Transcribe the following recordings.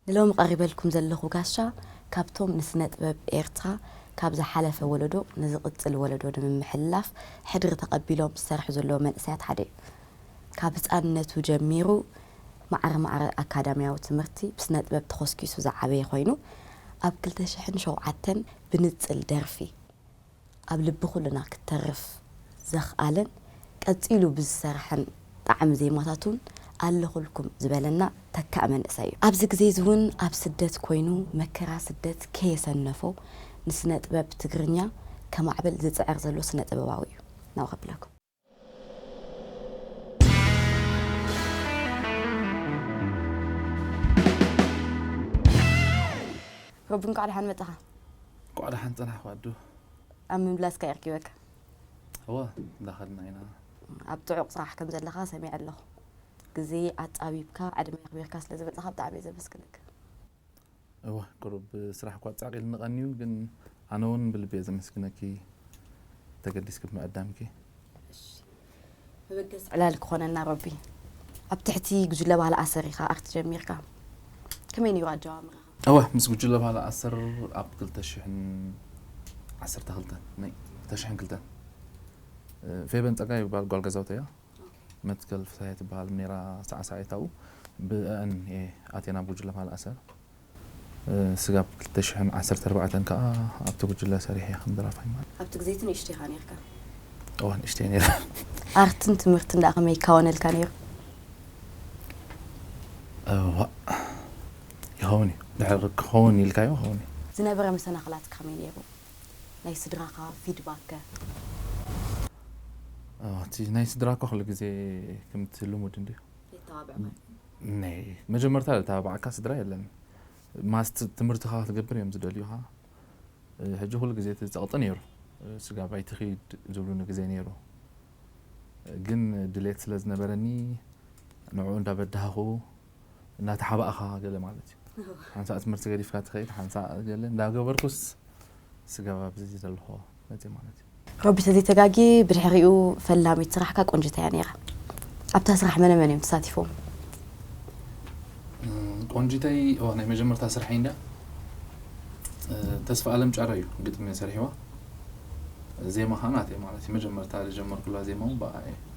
ንሎሚ ቀሪበልኩም ዘለኹ ጋሻ ካብቶም ንስነጥበብ ኤርትራ ካብ ዝሓለፈ ወለዶ ንዝቕጽል ወለዶ ንምምሕልላፍ ሕድሪ ተቐቢሎም ዝሰርሑ ዘለዉ መንእሰያት ሓደ እዩ። ካብ ህጻንነቱ ጀሚሩ ማዕረ ማዕረ ኣካዳምያዊ ትምህርቲ ብስነጥበብ ተኾስኪሱ ዝዓበየ ኮይኑ ኣብ ክልተ ሽሕን ሸውዓተን ብንጽል ደርፊ፣ ኣብ ልቢ ኩልና ክተርፍ ዘኽኣለን ቀጺሉ ብዝሰርሐን ጣዕሚ ዜማታቱ ውን ኣለኹልኩም ዝበለና ተካእ መንእሰይ ዩ። ኣብዚ ግዜ'ዚ ውን ኣብ ስደት ኮይኑ መከራ ስደት ከየሰነፎ ንስነ ጥበብ ትግርኛ ከማዕብል ዝጽዕር ዘሎ ስነ ጥበባዊ ዩ ናብ ከብለኩም። ሮቢ እንኳዕ ደሓን መጻኻ እንኳዕ ደሓን ፀናሕኩ ኣዱ ኣብ ምምላስካ ይርኪበካ እወ እንዳኸድና ኢና ኣብ ጥዑቕ ስራሕ ከም ዘለኻ ሰሚዐ ኣለኹ ግዜ ኣጻቢብካ ዕድመ ኣኽቢርካ ስለ ዝመጻኻ ብጣዕሚ እየ ዘመስግነካ እወ ቁሩብ ስራሕ እኳ ጻቅ ኢልኒ ቀንዩ ግን ኣነ ውን ብልቢ እየ ዘመስግነኪ ተገዲስኪ ብምዕዳምኪ። መበገሲ ዕላል ክኾነና ረቢ። ኣብ ትሕቲ ጉጅለ ባህሊ ኣሰር ኢኻ ኣክት ጀሚርካ። ከመይ ነይሩ ኣጀማምራኻ? እወ ምስ ጉጅለ ባህሊ ኣሰር ኣብ ክልተ ሽሕን ዓሰርተ ክልተን ናይ ክልተ ሽሕን ክልተን ፌቨን ጸጋይ ዝባሃል ጓል ገዛውተይ እያ። መትከል ፍስሃየ ትበሃል ኔራ ሳዕሳዒት ኣብኡ ብእኣን እየ ኣትየ ናብ ጉጅለ ማል ኣሰር ስጋብ ክልተ ሽሕን ዓሰርተ ኣርባዕተን ከኣ ኣብቲ ጉጅለ ሰሪሐ እየ ከም ደራፋይ ማል ኣብቲ ግዜ እቲ ንእሽቶ ኢኻ ኔርካ እወ ንእሽቶ እየ ኔረ ኣርትን ትምህርትን ደኣ ከመይ ይካወነልካ ኔሩ እዋእ ይኸውን እዩ ድሕሪ ክኸውን ኢልካዮ ይኸውን እዩ ዝነበረ መሰናኽላት ከመይ ኔሩ ናይ ስድራኻ ፊድባክ ከ? እቲ ናይ ስድራኳ ኩሉ ግዜ ከምቲ ልሙድ እንድዩ መጀመርታ ዝተባባዓካ ስድራ የለን ማስት ትምህርትኻ ክትገብር እዮም ዝደልዩኻ ሕጂ ኩሉ ግዜ እቲ ጸቕጢ ነይሩ ስጋብ ኣይትኺድ ዝብሉኒ ግዜ ነይሩ ግን ድሌት ስለ ዝነበረኒ ንዕኡ እንዳበዳህኹ እናተሓባእኻ ገለ ማለት እዩ ሓንሳእ ትምህርቲ ገዲፍካ ትኸይድ ሓንሳእ ገለ እንዳገበርኩስ ስጋብ ኣብዚ ዘለኹ መፅእ ማለት እዩ ሮቢ ተዘይተጋጊ ብድሕሪኡ ፈላሚት ስራሕካ ቆንጅት እያ ነይራ ኣብታ ስራሕ መነ መን እዮም ተሳቲፎም ቆንጅተይ ዋ ናይ መጀመርታ ስራሐይ እንዳ ተስፋ ኣለም ጫረ እዩ ግጥሚ ሰሪሕዋ ዜማ ከዓ ናተይ ማለት እዩ መጀመርታ ዝጀመርኩላ ዜማ እውን ብኣ እየ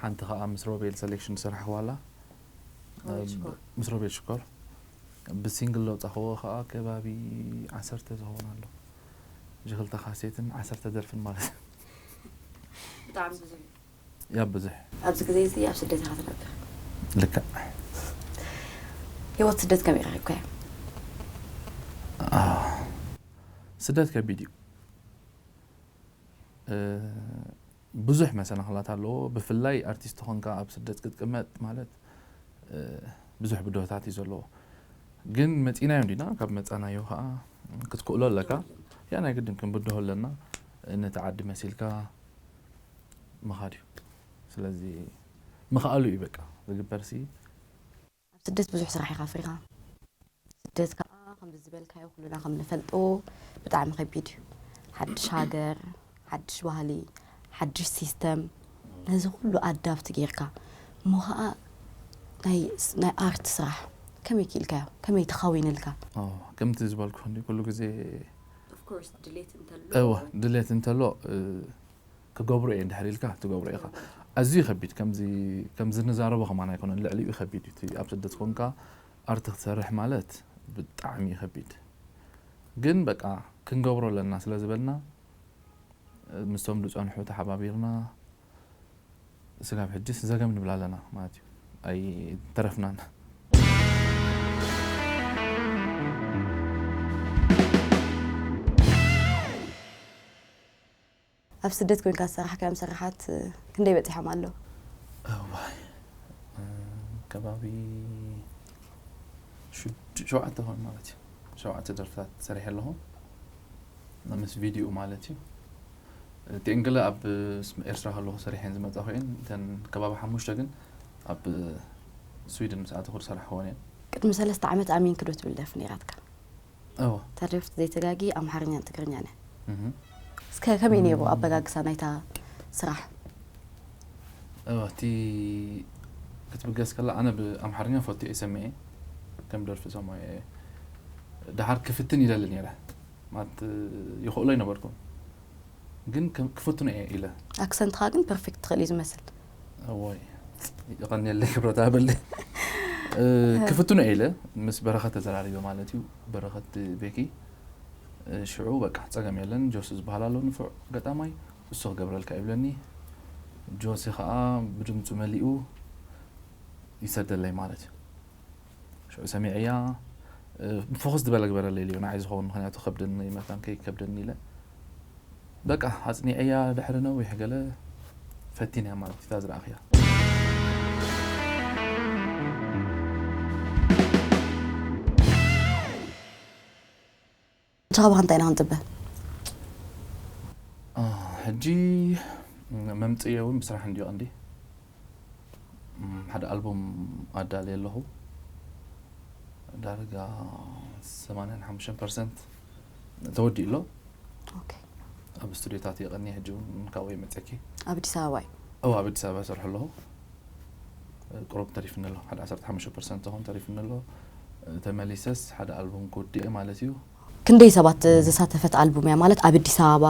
ሓንቲ ከኣ ምስ ሮቤል ሰሌክሽን ዝሰራሕክዋላ ሮቤል ሽኮር ብ ምስ ሮቤል ሽኮር ብሲንግል ዘውጻክዎ ከኣ ከባቢ ዓሰርተ ዝከውን ኣሎ እዚ ክልተ ካሴትን ዓሰርተ ደርፍን ማለት እዩ ብጣዕሚ ብዙሕ እዩ ያብ ብዙሕ ኣብዚ ግዜ እዚ ኣብ ስደት ኢካ ትነብር ልክዕ ሂወት ስደት ከመይ ረኪብካዮ ኣህ ስደት ከቢድ እዩ እ ብዙሕ መሰናኽላት ኣለዎ ብፍላይ ኣርቲስት ኾንካ ኣብ ስደት ክትቅመጥ ማለት ብዙሕ ብድሆታት እዩ ዘለዎ ግን መፂናዮ እንዲና ካብ መፃናዮ ከዓ ክትክእሎ ኣለካ ያ ናይ ግድን ክንብድሆ ኣለና ነቲ ዓዲ መሲልካ ምኻድ እዩ ስለዚ ምኽኣሉ እዩ በቃ ዝግበርሲ ኣብ ስደት ብዙሕ ስራሕ ኢኻ ኣፍሪኻ ስደት ከዓ ከምዚ ዝበልካዮ ኩሉና ከም ንፈልጦ ብጣዕሚ ከቢድ እዩ ሓድሽ ሃገር ሓድሽ ባህሊ ሓድሽ ሲስተም ነዚ ኩሉ ኣዳብቲ ጌርካ እሞ ከዓ ናይ ኣርት ስራሕ ከመይ ክኢልካዮ ከመይ ተኻዊንልካ ከምቲ ዝበልኩ ኩሉ ግዜ ድሌት እንተሎ ክገብሮ እየ እንድሕር ኢልካ ትገብሮ ኢኻ። ኣዝዩ ከቢድ ከምዚ ከምዚ ንዛረቦ ከማን ኣይኮነን ልዕሊኡ ከቢድ እዩ እቲ ኣብ ስደት ኮንካ ኣርቲ ክትሰርሕ ማለት ብጣዕሚ እዩ ከቢድ ግን በቃ ክንገብሮ ኣለና ስለ ዝበልና ምስቶም ዝጸንሑ ተሓባቢርና ስጋብ ሕጂስ ዘገም ንብል ኣለና ማለት እዩ ኣይተረፍናን ኣብ ስደት ኮንካ ዝሰራሕካዮም ስራሓት ክንደይ በጺሖም ኣለዉ? እዋይ ከባቢ ሽዱ ሸውዓተ ክኾኑ ማለት እዩ። ሸውዓተ ደርፍታት ሰሪሐ ኣለኹ። ምስ ቪድዮኡ ማለት እዩ። እቲኤን ገለ ኣብ ኤርትራ ከለኹ ሰሪሐን ዝመጻኹ እየን። እተን ከባቢ ሓሙሽተ ግን ኣብ ስዊድን ምስ ኣተኹ ዝሰራሕክወን እየን። ቅድሚ ሰለስተ ዓመት ኣሚንኪ ዶ ትብል ደርፊ ነይራትካ? እወ። እታ ደርፍቲ ዘይተጋጊ ኣምሓርኛን ትግርኛን እያ። እህ። እስከ ከመይ ነይሩ ኣበጋግሳ ናይታ ስራሕ? እወ እቲ ክትብገስ ከላ ኣነ ብኣምሓርኛ ፈትየ'የ ሰሚዐ ከም ደርፊ ሰማዮ እየ። ደሓር ክፍትን ይደሊ ነይረ ማለት ይኽእሎ ኣይነበርኩን ግን ክፍትኖ እየ ኢለ። ኣክሰንትኻ ግን ፐርፌክት ትኽእል እዩ ዝመስል። እዋይ ይቐንየለይ ክብረት ሃበለይ እ፣ ክፍትኖ እየ ኢለ ምስ በረኸት ተዘራሪበ ማለት እዩ በረኸት ቤኪ እ፣ ሽዑ በቃ ፀገም የለን ጆሲ ዝበሃል ኣሎ ንፉዕ ገጣማይ እሱ ክገብረልካ እዩ ብለኒ ጆሲ ከዓ ብድምፁ መሊኡ ይሰደለይ ማለት እዩ ሽዑ ሰሚዐያ ፍኹስ ዝበለ ግበረለይ ኢለዮ፣ ንዓይ ዝኸውን ምኽንያቱ ከብደኒ መታን ከይከብደኒ ኢለ በቃ ኣጽኒዐያ ድሕሪ ነዊሕ ገለ ፈቲነያ ማለት እዩ እታ ዝረኣኽያ። ብቻ ካባካ እንታይ ኢና ክንጽበ። ሕጂ መምጽኢየይ ውን ብስራሕ እንድዩ ቀንዲ። ሓደ ኣልቡም ኣዳልየ ኣለኹ ዳርጋ ሰማንያን ሓሙሽተን ፐርሰንት ተወዲኡ ኣሎ። ኣብ ስቱድዮታት እየ ቀንየ ሕጂ ውን ካብኡ እየ መጺኤኪ። ኣብ ኣዲስ ኣበባ እዩ። እወ ኣብ ኣዲስ ኣበባ እሰርሖ ኣለኹ። ቁሩብ ተሪፍኒ ኣሎ ሓደ ዓሰርተ ሓሙሽተ ፐርሰንት ዝኸውን ተሪፍኒ ኣሎ። ተመሊሰስ ሓደ ኣልቡም ክውድእየ ማለት እዩ። ክንደይ ሰባት ዘሳተፈት ኣልቡም እያ? ማለት ኣብ ኣዲስ ኣበባ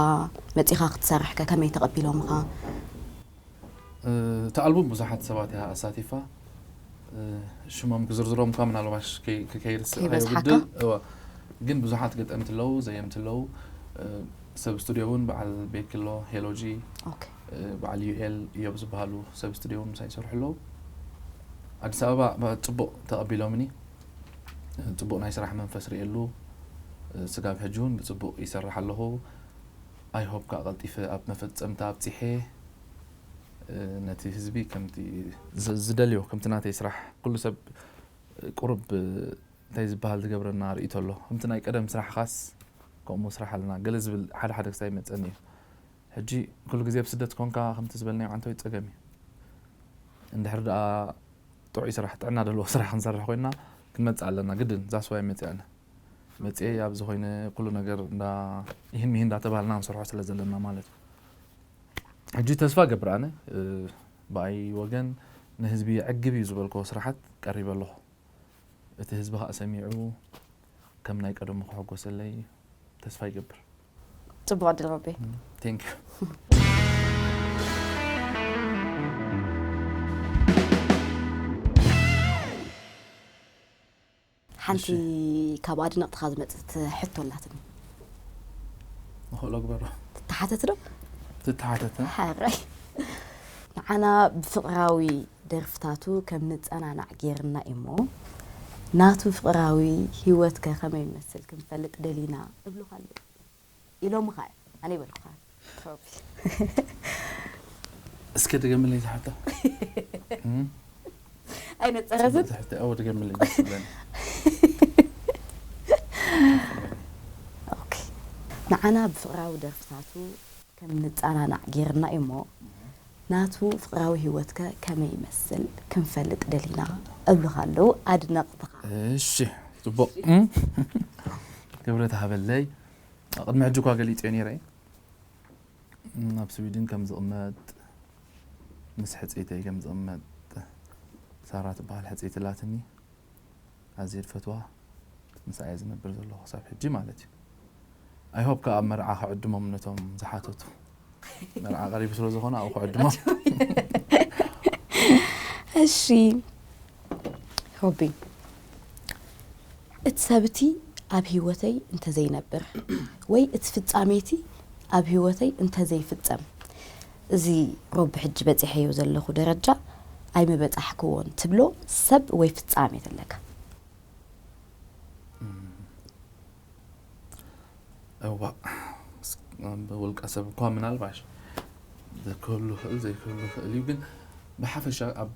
መጺኻ ክትሰርሕ ከ ከመይ ተቐቢሎምኻ? እታ ኣልቡም ብዙሓት ሰባት እያ ኣሳቲፋ። ሽሞም ክዝርዝሮም እኳ ምናልባሽ ክከይድ ከይበዝሓካ ግን ብዙሓት ገጠምቲ ኣለዉ፣ ዘየምቲ ኣለዉ፣ ሰብ ስቱድዮ እውን በዓል ቤኪ ኣሎ፣ ሄሎጂ፣ በዓል ዩኤል እዮብ ዝበሃሉ ሰብ ስቱድዮ እውን ምሳይ ይሰርሑ ኣለዉ። ኣዲስ ኣበባ ፅቡቕ ተቐቢሎምኒ። ፅቡቕ ናይ ስራሕ መንፈስ ርእየሉ። ስጋብ ሕጂ እውን ብፅቡቕ ይሰርሕ ኣለኹ። ኣይ ሆፕ ከዓ ቀልጢፈ ኣብ መፈፀምታ ኣብፂሐ ነቲ ህዝቢ ከምቲ ዝደልዮ ከምቲ ናተይ ስራሕ ኩሉ ሰብ ቁሩብ እንታይ ዝበሃል ዝገብረና ርእይቶ ኣሎ። ከምቲ ናይ ቀደም ስራሕኻስ ከምኡ ስራሕ ኣለና ገለ ዝብል ሓደ ሓደ ክሳብ ይመፀኒ እዩ። ሕጂ ኩሉ ግዜ ኣብ ስደት ኮንካ ከምቲ ዝበልናዮ ዓንተወይ ጸገም እዩ እንድሕር ደኣ ጥዑይ ስራሕ ጥዕና ደለዎ ስራሕ ክንሰርሕ ኮይና ክንመጽእ ኣለና ግድን ዛስ ዋይ መጺኣ ኣነ መጽኤ ኣብዚ ኮይነ ኩሉ ነገር እንዳ ይህን ምሂን እንዳተባሃልና ክንሰርሖ ስለ ዘለና ማለት እዩ ሕጂ ተስፋ ገብር ኣነ ብኣይ ወገን ንህዝቢ የዕግብ እዩ ዝበልኮ ስራሓት ቀሪበ ኣለኹ እቲ ህዝቢ ከዓ ሰሚዑ ከም ናይ ቀደሙ ክሕጎሰለይ ተስፋ ይገብር ጽቡቕ ዕድል ሮቤ። Thank you። ሓንቲ ካብ ኣድነቕትኻ ዝመጽት ሕቶ ኣላትኒ ንኽእሎ ግበሮ ትተሓተት ዶ ትተሓተተ ሓራይ ንዓና ብፍቕራዊ ደርፍታቱ ከም ንጸናናዕ ጌርና ኢሞ ናቱ ፍቅራዊ ሂወት ከ ከመይ ይመስል ክንፈልጥ ደሊና እብሉካ ኣለዉ ኢሎምካ ኢዮም ኣነ ኣይበልኩካን ፕሮቢ እስከ ድገምለይ እዛ ሕቶ ኣይነጸረትን ጽብቅቲ ሕቶ ኣወ ድገምለይ ደስ ዝብለኒ ኦኬ ንዓና ብፍቅራዊ ደርፍታቱ ከም ንጻናናዕ ጌርና እዩ'ሞ ናቱ ፍቕራዊ ሂወትከ ከመይ ይመስል ክንፈልጥ ደሊና እብሉኻ ኣለዉ ኣድነቕትኻ። እሺ ጽቡቕ ክብረት ሃበለይ ቅድሚ ሕጂ እኳ ገሊጸዮ ኔረ ኣብ ስዊድን ከም ዝቕመጥ ምስ ሕጽይተይ ከም ዝቕመጥ ሳራ ትብሃል ሕጽይቲ ኣላትኒ። ኣዝየ ዝፈትዋ ምስኣ እየ ዝነብር ዘለኩ ክሳብ ሕጂ ማለት እዩ ኣይ ሆፕ ከኣ ኣብ መርዓ ክዕድሞም ነቶም ዝሓተቱ መርዓ ቀሪቡ ስለ ዝኾነ ኣብኡ ክዕድሞም እሺ ሆቢ እቲ ሰብ እቲ ኣብ ሂወተይ እንተዘይነብር ወይ እቲ ፍጻሜ እቲ ኣብ ሂወተይ እንተዘይፍጸም እዚ ሮቢ ሕጂ በጺሐዮ ዘለኹ ደረጃ ኣይምበጻሕክዎን ትብሎ ሰብ ወይ ፍጻሜ ተለካ? እዋእ ብውልቀ ሰብ እኳ ምናልባሽ ክህሉ ይኽእል ዘይክህሉ ይኽእል እዩ ግን ብሓፈሻ ኣብ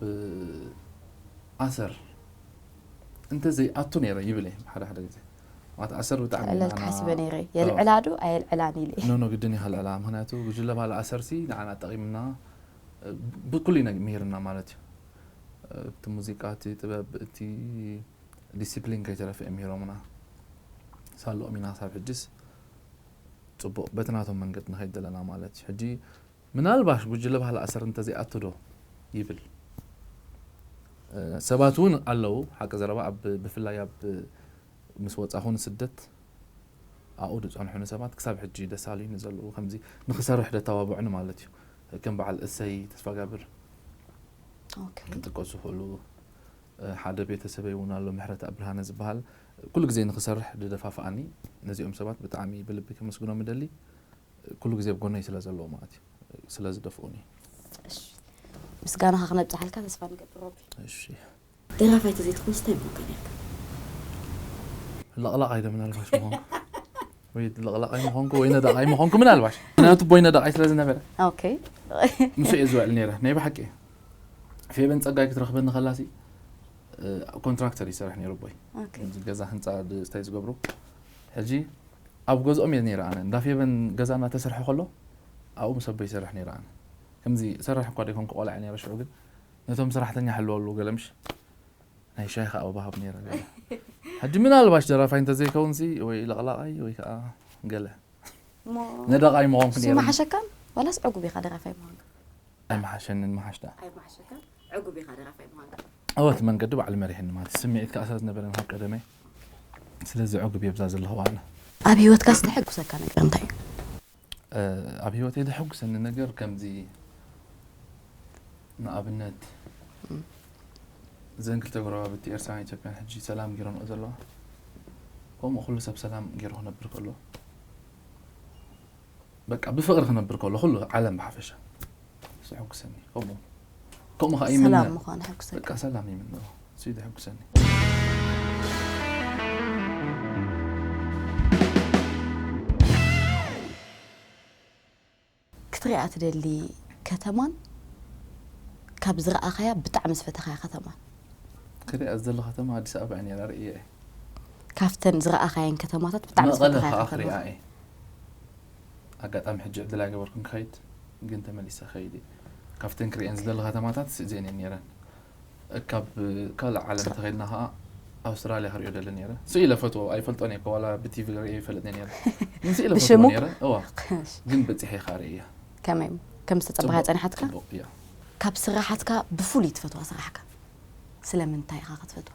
ኣሰር እንተዘይኣቱ ነይረ ይብል እየ ሓደ ሓደ ግዜ ዋት ኣሰር ብጣዕሚ እዩ ክእለልካ ንዓና ሓሲበ ነይረ የልዕላ ዶ ኣየልዕላን ኢለ ኖ ኖ ግድን ይሃልዕላ ምክንያቱ ጉጅለ ባህሊ ኣሰርሲ ንዓና ጠቂምና እ፣ ብኩሉ ነገር ምሂርና ማለት እዩ እ፣ እቲ ሙዚቃ እቲ ጥበብ እቲ ዲሲፕሊን ከይተረፈ እዮም ምሂሮምና ሳለኦም ኢና ክሳብ ሕጂስ ፅቡቅ በቲ ናቶም መንገዲ ንከይድ ዘለና ማለት እዩ ሕጂ ምናልባሽ ጉጅለ ባህሊ ኣሰር እንተዘይኣቱ ዶ ይብል ሰባት እውን ኣለው ሓቂ ዘረባ ኣብ ብፍላይ ኣብ ምስ ወጻኹ ንስደት ኣብኡ ዝጸንሑኒ ሰባት ክሳብ ሕጂ ደሳሉይኒ ዘለው ከምዚ ንክሰርሕ ደተባብዑኒ ማለት እዩ ከም በዓል እሰይ ተስፋጋብር ክጥቀሱ ይኽእሉ ሓደ ቤተሰበይ እውን ኣሎ ምሕረተኣብ ብርሃነ ዝበሃል ኩሉ ግዜ ንክሰርሕ ዝደፋፍኣኒ ነዚኦም ሰባት ብጣዕሚ ብልቢ ከመስግኖም እደሊ ኩሉ ግዜ ኣብ ጎነይ ስለ ዘለዉ ማለት እዩ ስለ ዝደፍኡኒ። እሺ ምስጋናኻ ክነብጽሓልካ ተስፋ ንገብር ሮቢ። እሺ። ደራፋይ ተዘይትኾንስ እንታይ ምኾንካ ኔርካ? ለቕላቓይ ዶ ምናልባሽ ምኾንኩ ወይ ለቕላቓይ ምኾንኩ ወይ ነዳቓይ ምኾንኩ ምናልባሽ ምክንያቱ ኣቦይ ነዳቓይ ስለ ዝነበረ ኦኬ ምስ እየ ዝውዕል ነይረ ናይ ብሓቂ እየ ፌበን ጸጋይ ክትረኽበኒ ከላሲ ኮንትራክተር ይሰርሕ ነይሩ ኣቦይ ኦኬ እዚ ገዛ ህንፃ ድስታይ ዝገብሩ ሕጂ ኣብ ገዝኦም እየ ነይረ ኣነ እንዳ ፌቨን ገዛ እናተሰርሐ ከሎ ኣብኡ ምስ ኣቦይ ይሰርሕ ነይረ ኣነ ከምዚ እሰርሕ እኳ ደይኮንኩ ቆልዓ እየ ነይረ ሽዑ ግን ነቶም ስራሕተኛ ሕልወሉ ገለ ምሽ ናይ ሻሂ ከኣ ኣብሃብ ነይረ ገለ ሕጂ ምናልባሽ ደራፋይ እንተዘይከውንሲ ወይ ለቕላቓይ ወይ ከኣ ገለ ነዳቓይ ምኾንኩ ነይረ ምሓሸካን ዋላስ ዕጉብ ኢኻ ደራፋይ ምዃንካ ኣይምሓሸንን ምሓሽ ደኣ ኣይምሓሸካን ዕጉብ ኢኻ ደራፋይ ምዃንካ ኣወት መንገዲ ባዕሉ መሪሕኒ ማለት ስምዒት ከኣ ስለ ዝነበረኒ ካብ ቀደመይ ስለዚ ዑግብ እየ ብዛ ዘለኹ ኣነ። ኣብ ሂወትካ ዝተሐጉሰካ ነገር እንታይ እዩ? ኣብ ሂወተይ ዘሐጉሰኒ ነገር ከምዚ ንኣብነት እዘን ክልተ ጎረባብቲ ኤርትራን ኢትዮጵያን ሕጂ ሰላም ጌሮንኦ ዘለዋ ከምኡ ኩሉ ሰብ ሰላም ጌሩ ክነብር ከሎ በቃ ብፍቅሪ ክነብር ከሎ ኩሉ ዓለም ብሓፈሻ እሱ የሕጉሰኒ ከምኡ ከምኡ ከዓ ይምነ ሰላም ምዃን ሕጉሰኒ በቃ ሰላም ይምነ እሱ እዩ ዘሕጉሰኒ ክትሪኣ ትደሊ ከተማን ካብ ዝረኣኻያ ብጣዕሚ ዝፈተኻያ ከተማን ክሪኣ ዝደሊ ከተማ ኣዲስ ኣበባ እያ ነይራ ርእየ እየ ካፍተን ዝረኣኻየን ከተማታት ብጣዕሚ መቐለ ዝፈተኻያ ከኣ ከተማ ክሪኣ እየ ኣጋጣሚ ሕጂ ዕድል ኣይገበርኩን ክኸይድ ግን ተመሊሰ ክኸይድ እየ ካብተን ክሪኤን ዝደሊ ከተማታት ስእዚኤን እየን ነይረን ካብ ካልእ ዓለም እንተኸይድና ከኣ ኣውስትራልያ ክሪኦ ደሊ ነይረ ስእ ኢለ ፈትዎ ኣይፈልጦን እየ እኮ ዋላ ብቲቪ ሪኤ ይፈልጥ ነይረ ግን ስእ ኢለ ፈትዎ ብሽሙ? ነይረ እዋ ግን በፂሐ ከኣ ሪኤያ ከመይ ከም ዝተጸበኻ ጽቡቕ- ጸኒሓትካ ጽቡቕ እያ ካብ ስራሓትካ ብፍሉይ ትፈትዋ ስራሕካ ስለምንታይ ኢኻ ክትፈትዋ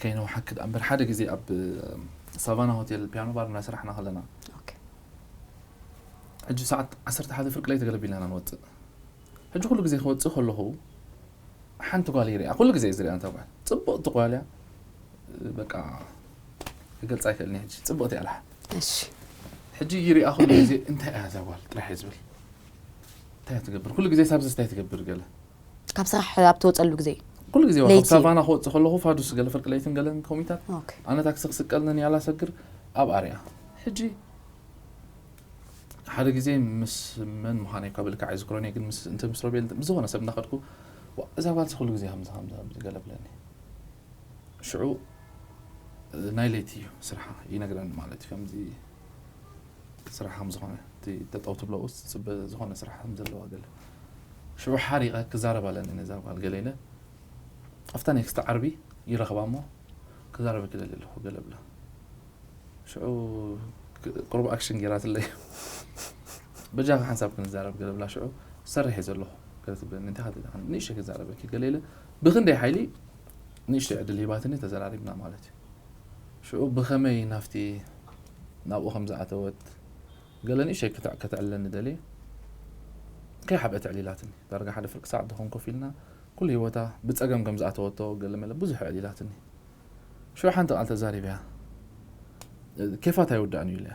ከይነውሓኪ ደኣ እምበር ሓደ ግዜ ኣብ ሳቫና ሆቴል ፒያኖ ባር እናሰራሕና ከለና ሕጂ ሰዓት ዓሰርተ ሓደ ፍርቂ ለይቲ ገለ ቢልና ኢና ንወፅእ ሕጂ ኩሉ ግዜ ክወፅእ ከለኹ ሓንቲ ጓል ይሪኣ ኩሉ ግዜ ዝሪኣ እንታ ጓል ፅብቕቲ ጓል እያ በቃ ክገልፃ ኣይክእልን እየ ሕጂ ፅብቕቲ እያ ልሓ ሕጂ ይሪኣ ኩሉ ግዜ እንታይ እያ እዛ ጓል ጥራሕ እየ ዝብል እንታይ እያ ትገብር ኩሉ ግዜ ሳብዚ እንታይ ትገብር ገለ ካብ ስራሕ ኣብ ትወጸሉ ግዜ ኩሉ ግዜ ካብ ሳቫና ክወጽእ ከለኹ ፋዱስ ገለ ፍርቂ ለይትን ገለን ኮሚታት ኣነ ታክሲ ክስቀል ንንያላ ሰግር ኣብ ኣርያ ሕጂ ሓደ ግዜ ምስ መን ምዃነይ እኳ ብልክዕ ኣይዝክሮን እየ ግን ምስ እንተ ምስ ሮቤል ምስ ዝኾነ ሰብ እንዳኸድኩ እዛ ጓልሲ ኩሉ ግዜ ከምዚ ከምዚ ከምዚ ገለ ብለኒ ሽዑ ናይ ለይቲ እዩ ስርሓ ይነግረኒ ማለት እዩ ከምዚ ስራሕ ከም ዝኾነ እቲ ጠጠው ትብለኡስ ትፅበ ዝኾነ ስራሕ ከም ዘለዋ ገለ ሽዑ ሓሪቐ ክዛረብ ኣለኒ ነዛ ጓል ገለ ኢለ ኣብታ ኔክስት ዓርቢ ይረኽባ እሞ ክዛረበ ክደሊ ኣለኹ ገለ ብላ ሽዑ ቅሩብ ኣክሽን ገይራትለይ በጃኻ ሓንሳብ ክንዛረብ ገለ ብላ ሽዑ ዝሰርሕ እየ ዘለኹ ገለ ትብለኒ እንታይ ከ ንእሽተይ ክዛረበኪ ገለ ኢለ ብክንደይ ሓይሊ ንእሽተይ ዕድል ሂባትኒ ተዘራሪብና ማለት እዩ ሽዑ ብኸመይ ናብቲ ናብኡ ከም ዝኣተወት ገለ ንእሽተይ ክትዕ ከተዕልለኒ ደልየ። ከይሓብአት ኣዕሊላትኒ። ዳርጋ ሓደ ፍርቂ ሰዓት ዝኸውን ኮፍ ኢልና ኩሉ ህይወታ ብጸገም ከም ዝኣተወቶ ገለመለ ብዙሕ ኣዕሊላትኒ። ሽዑ ሓንቲ ቃል ተዛሪበያ። ኬፋት ኣይውዳእን'ዩ ኢለያ።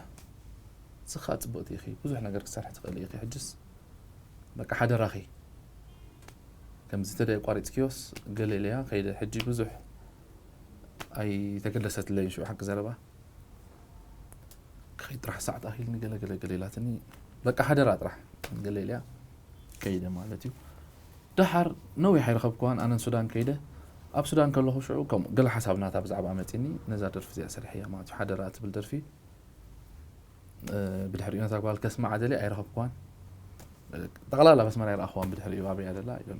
ንስኻ ጽብቕቲ ኢኺ፣ ብዙሕ ነገር ክትሰርሒ ትኽእሊ ኢኺ፣ ሕጅስ በቃ ሓደራኺ ከምዚ እንተደኣ ኣቋሪጽክዮስ ገለ ኢለያ ከይደ። ሕጂ ብዙሕ ኣይተገለሰትለይን ሽዑ ሓቂ ዘረባ ክኸይድ ጥራሕ ሰዓት ኣኺልኒ ገለ ገለ ገለ ኢላትኒ በቃ ሓደራ ጥራሕ ገለ ኢልያ ከይደ ማለት እዩ ደሓር ነዊሕ ኣይረኸብክዋን ኣነን ሱዳን ከይደ ኣብ ሱዳን ከለኹ ሽዑ ከምኡ ገለ ሓሳብ ናታ ብዛዕባ መፂኒ ነዛ ደርፊ እዚኣ ሰሪሐያ ማለት እዩ ሓደራ ትብል ደርፊ ብድሕሪኡ ነታ ጓል ከስማዓ ደልየ ኣይረኸብክዋን ጠቕላላ በስመራ ይረኣኽዋን ብድሕሪኡ ኣበይ ደላ ኣይደሎ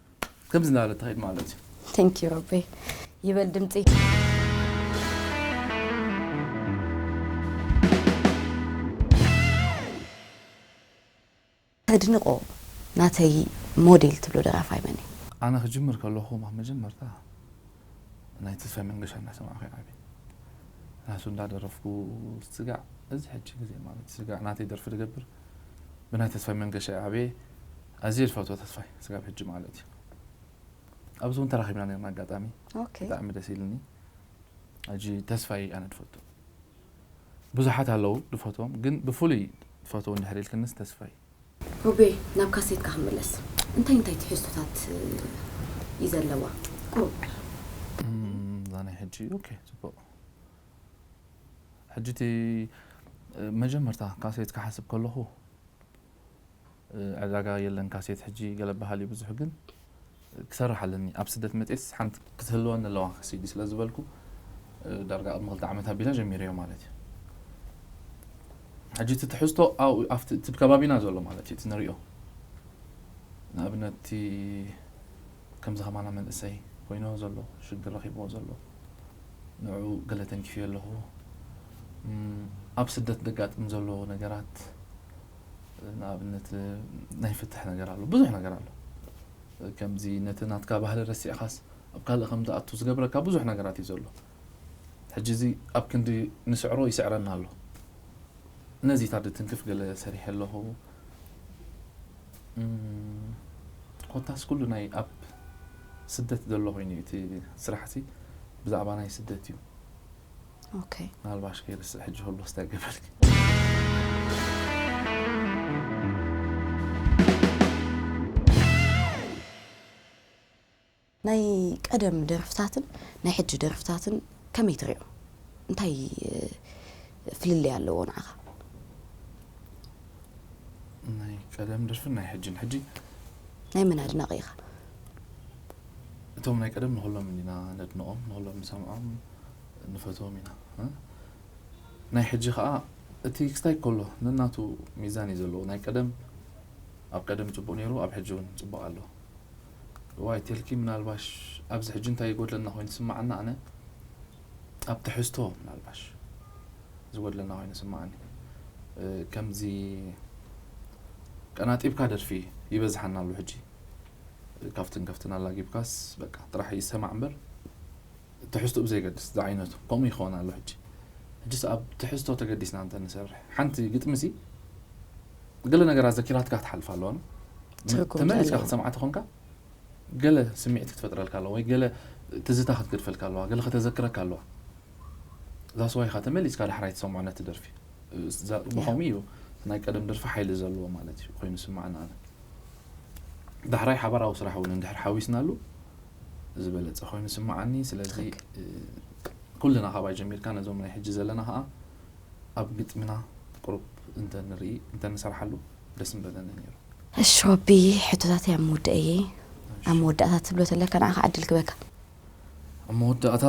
ከምዚ እናበለት ትኸይድ ማለት እዩ ቴንክ ዩ ሮቤ ይበል ድምፂ ተድንቆ ናተይ ሞዴል ትብሎ ደራፋይ መን እዩ ኣነ ክጅምር ከለኹ ኣብ መጀመርታ ናይ ተስፋይ መንገሻ እናሰማዕኹ ይዓቢ ናቱ እንዳደረፍኩ ስጋዕ እዚ ሕጂ ግዜ ማለት ስጋዕ ናተይ ደርፊ ድገብር ብናይ ተስፋይ መንገሻ እየ ዓብየ ኣዝየ ዝፈትዎ ተስፋይ ስጋብ ሕጂ ማለት እዩ ኣብዚ እውን ተራኺብና ነርና ኣጋጣሚ ብጣዕሚ ደስ ኢልኒ ሕጂ ተስፋይ ኣነ ድፈቱ ብዙሓት ኣለዉ ድፈትዎም ግን ብፍሉይ ድፈትዎ እንድሕር ኢልክንስ ተስፋይ ሮቤ ናብ ካሴትካ ክንምለስ እንታይ እንታይ ትሕዝቶታት እዩ ዘለዋ ቁሩብ እዛ ናይ ሕጂ ኦኬ ፅቡቅ ሕጂ እቲ መጀመርታ ካሴት ክሓስብ ከለኹ ዕዳጋ የለን ካሴት ሕጂ ገለ በሃል እዩ ብዙሕ ግን ክሰርሕ ኣለኒ ኣብ ስደት መጺኤስ ሓንቲ ክትህልወኒ ኣለዋ ሲዲ ስለ ዝበልኩ ዳርጋ ቅድሚ ክልተ ዓመት ኣቢለ ጀሚረዮ ማለት እዩ ሕጂ እቲ ትሕዝቶ ኣብቲ እቲ ከባቢና ዘሎ ማለት እዩ እቲ ንሪኦ ንኣብነት እቲ ከምዚ ከማና መንእሰይ ኮይኑዎ ዘሎ ሽግር ረኪቡዎ ዘሎ ንዑኡ ገለ ተንኪፈዮ ኣለኩ ኣብ ስደት ደጋጥም ዘሎ ነገራት ንኣብነት ናይ ፍትሕ ነገር ኣሎ ብዙሕ ነገር ኣሎ ከምዚ ነቲ ናትካ ባህሊ ረሲዕካስ ኣብ ካልእ ከም ትኣቱ ዝገብረካ ብዙሕ ነገራት እዩ ዘሎ ሕጂ እዚ ኣብ ክንዲ ንስዕሮ ይስዕረና ኣሎ ነዚታት ድትንክፍ ገለ ሰሪሐ ኣለኩ ኮታስ ኩሉ ናይ ኣብ ስደት ዘሎ ኮይኑ እዩ እቲ ስራሕቲ ብዛዕባ ናይ ስደት እዩ ኦኬ ናልባሽ ከይርስዕ ሕጂ ሆሎስ እንታይ ገበርኪ ናይ ቀደም ደርፍታትን ናይ ሕጂ ደርፍታትን ከመይ ትሪኦ እንታይ ፍልልይ ኣለዎ ንዓኻ? ናይ ቀደም ደርፍን ናይ ሕጅን ሕጂ ናይ መን ኣድናቂ ኢኻ? እቶም ናይ ቀደም ንኹሎም ኢና ነድንቆም ንኹሎም ንሰምዖም ንፈትዎም ኢና ናይ ሕጂ ከዓ እቲ ክስታይ ከሎ ነናቱ ሚዛን እዩ ዘለዎ ናይ ቀደም ኣብ ቀደም ፅቡቅ ነይሩ ኣብ ሕጂ እውን ፅቡቅ ኣሎ እዋይ ቴልኪ ምናልባሽ ኣብዚ ሕጂ እንታይ ይጎድለና ኮይኑ ዝስማዓና ኣነ ኣብ ትሕዝቶ ምናልባሽ ዝጎድለና ኮይኑ ዝስማዓኒ ከምዚ ቀናጢብካ ደርፊ ይበዝሓና ኣሎ ሕጂ ካብትን ከፍትን ኣላጊብካስ በቃ ጥራሕ ይሰማዕ እምበር ትሕዝትኡ ብዘይገድስ ዝዓይነቱ ከምኡ ይኸውን ኣሎ ሕጂ ሕጂስ ኣብ ትሕዝቶ ተገዲስና እንተ ንሰርሕ ሓንቲ ግጥሚሲ ገለ ነገራት ዘኪራትካ ክትሓልፋ ኣለዋ እሞ ትርጉም ተመሊስካ ዘለዎ። ክትሰምዓ ተኾንካ ገለ ስምዒት ክትፈጥረልካ ኣለዋ ወይ ገለ ትዝታ ክትገድፈልካ ኣለዋ ገለ ከተዘክረካ ኣለዋ ዛስ ዋይ ኢኻ ተመሊስካ ዳሕራይ ትሰምዖ ነቲ ደርፊ እ፣ ዛ- ብኸምኡ እዩ እቲ ናይ ቀደም ደርፊ ሓይሊ ዘለዎ ማለት እዩ ኮይኑ ዝስምዓኒ ኣነ ዳሕራይ ሓባራዊ ስራሕ እውን እንድሕር ሓዊስናሉ ዝበለፀ ኮይኑ ዝስምዓኒ ስለዚ እ፣ ኩልና ካባይ ጀሚርካ ነዞም ናይ ሕጂ ዘለና ከዓ ኣብ ግጥምና ቁሩብ እንተ ንርኢ እንተ ንሰርሓሉ ደስ ምበለኒ ኔሩ። እሺ ወቢ ሕቶታተይ ኣብ ምውድእ እየ ኣብ መወዳእታ ትብሎ ተለካ ንዓካ ዕድል ክበካ። ኣብ መወዳእታ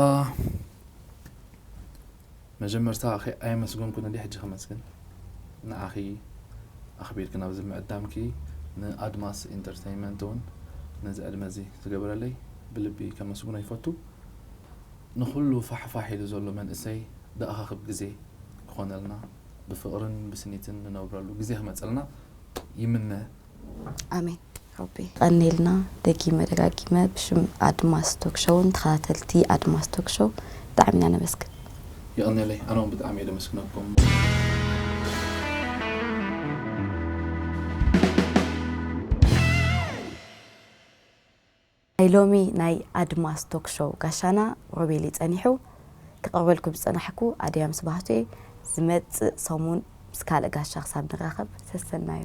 መጀመርታ ከይ ኣየመስገንኩን እንድየ ሕጂ ከመስግን ንዓኺ ኣኽቢርኪ ናብዚ ምዕዳምኪ ን ኣድማስ ኢንተርተይመንት ውን ነዚ ዕድመ እዚ ዝገበረለይ ብልቢ ከመስግኖ ይፈቱ። ንኹሉ ፋሕ ፋሕ ኢሉ ዘሎ መንእሰይ ደኣኻክብ ግዜ ክኾነልና ብፍቕርን ብስኒትን ንነብረሉ ግዜ ክመጸልና ይምነ። ኣሜን ሮቢ ቀኔልና ደጊመ ደጋጊመ ብሽም ኣድማስ ቶክ ሾውን ተኸታተልቲ ኣድማስ ቶክ ሾው ብጣዕሚ ኢና ነመስግን። የቐኔለይ ኣነውን ብጣዕሚ እየ ደመስግነኩም። ናይ ሎሚ ናይ ኣድማስ ቶክ ሾው ጋሻና ሮቤል'ዩ ጸኒሑ። ክቕርበልኩም ዝጸናሕኩ ኣድያም ስብሃቱ'የ። ዝመጽእ ሰሙን ምስ ካልእ ጋሻ ክሳብ ንራኸብ ሰሰናዩ።